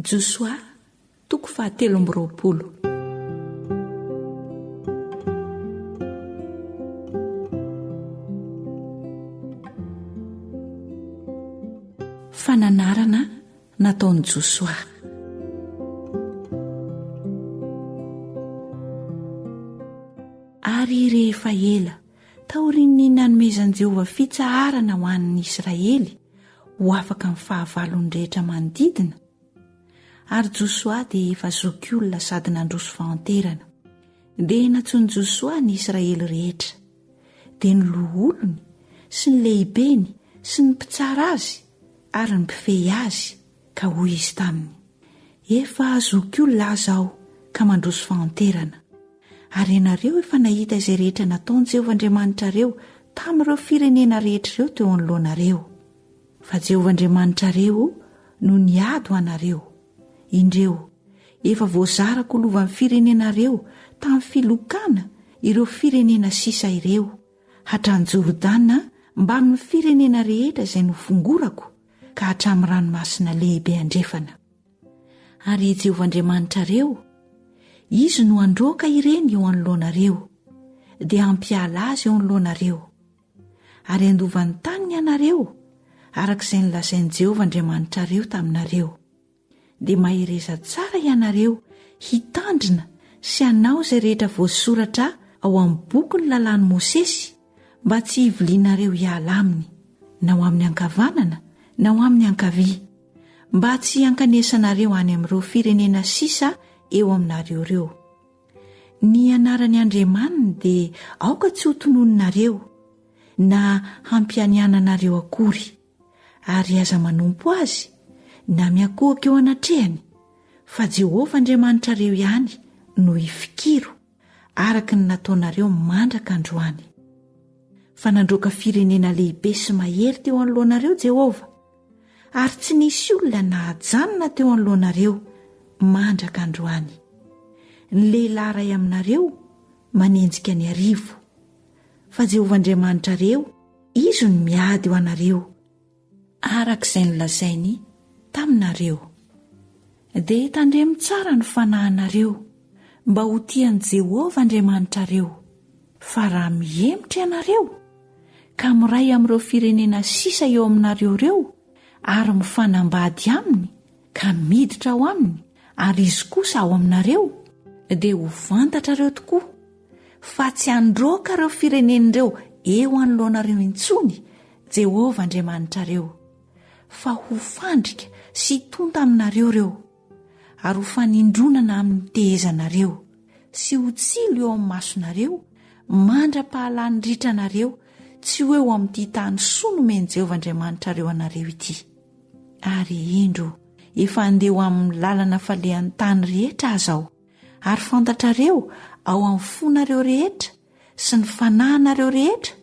Josoa, toko fahatelo amby roapolo. Fananarana nataon'i Josoa. Ary rehefa ela taorian'ny nanomezan'i Jehovah fitsaharana ho an'ny Israely, ho afaka amin'ny fahavalon'ny rehetra manodidina, ary Josoa dia efa zokiolona sady nandroso fahanterana. Dia nantsoin'i Josoa ny Israely rehetra, dia ny loholony sy ny lehibeny sy ny mpitsara azy ary ny mpifehy azy, ka hoy izy taminy, Efa zokiolona aza aho ka mandroso fahanterana. Ary ianareo efa nahita izay rehetra nataon'i Jehovah Andriamanitrareo tamin'ireo firenena rehetra ireo teo anoloanareo. Fa Jehovah Andriamanitrareo no niady ho anareo. Indreo, efa voazarako ho lovan'ny firenenareo tamin'ny filokana ireo firenena sisa ireo, hatrany Jordana mbamin'ny firenena rehetra izay nofongorako ka hatramin'ny Ranomasina Lehibe Andrefana. Ary i Jehovah Andriamanitrareo, izy no handroaka ireny eo anoloanareo, dia hampiala azy eo anoloanareo. Ary handova ny tany ny anareo, araka izay nolazain'i Jehovah Andriamanitrareo taminareo. Dia mahereza tsara ianareo hitandrina sy hanao izay rehetra voasoratra ao amin'ny bokin'ny lalàn'i Mosesy, mba tsy hivilianareo hiala aminy, na ho amin'ny ankavanana na ho amin'ny ankavia, mba tsy hankanesanareo any amin'ireo firenena sisa eo aminareo ireo. Ny anaran'ny Andriamaniny dia aoka tsy hotononinareo, na hampianiananareo akory, ary aza manompo azy, na miakohoka eo anatrehany, fa Jehovah Andriamanitrareo ihany no ifikiro. araka ny nataonareo mandraka androany, fa nandroaka firenena lehibe sy mahery teo anoloanareo Jehovah, ary tsy nisy olona nahajanona teo anoloanareo mandraka androany. Ny lehilahy iray aminareo manenjika ny arivo, fa Jehovah Andriamanitrareo, Izy no miady ho anareo. araka izay nolazainy taminareo. Dia tandremo tsara ny fanahinareo mba ho tia an'i Jehovah Andriamanitrareo, fa raha mihemotra ianareo, ka miray amin'ireo firenena sisa eo aminareo ireo ary mifanambady aminy ka miditra ao aminy ary izy kosa ao aminareo, dia ho fantatrareo tokoa fa tsy handroaka ireo firenena ireo eo anoloanareo intsony Jehovah Andriamanitrareo, fa ho fandrika sy hitonta aminareo ireo, ary ho fanindronana amin'ny tehezanareo, sy ho tsilo eo amin'ny masonareo mandra-pahalany ritra anareo tsy ho eo amin'ity tany soa nomen'i Jehovah Andriamanitrareo anareo ity. Ary indro, efa handeha ho amin'ny lalana falehan'ny tany rehetra aza aho, ary fantatrareo ao amin'ny fonareo rehetra sy ny fanahinareo rehetra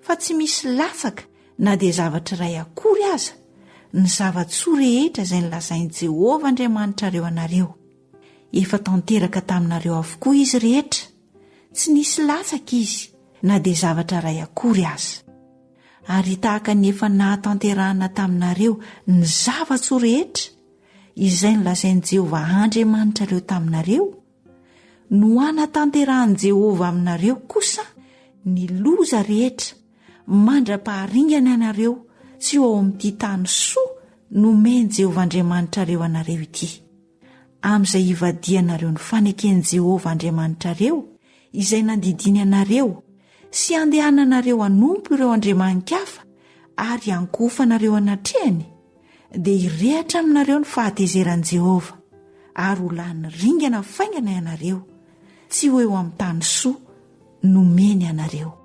fa tsy misy latsaka na dia zavatra iray akory aza ny zava-tsoa rehetra izay nilazain'i Jehovah Andriamanitrareo anareo. Efa tanteraka taminareo avokoa izy rehetra, tsy nisy latsaka izy na dia zavatra iray akory aza. Ary tahaka ny efa nahatanterahana taminareo ny zava-tsoa rehetra izay nilazain'i Jehovah Andriamanitrareo taminareo, No hanatanterahan'i Jehovah aminareo kosa ny loza rehetra mandra-paharingana anareo tsy ho ao amin'ity tany soa nomen'i Jehovah Andriamanitrareo anareo ity. Amin'izay hivadihanareo ny faneken'i Jehovah Andriamanitrareo izay nandidiany anareo sy handehananareo hanompo ireo andriamani-kafa ary hankofanareo anatrehany, dia hirehatra aminareo ny fahatezeran'i Jehovah, ary ho lany ringana faingana ianareo, tsy ho eo amin'ny tany soa nomeny anareo.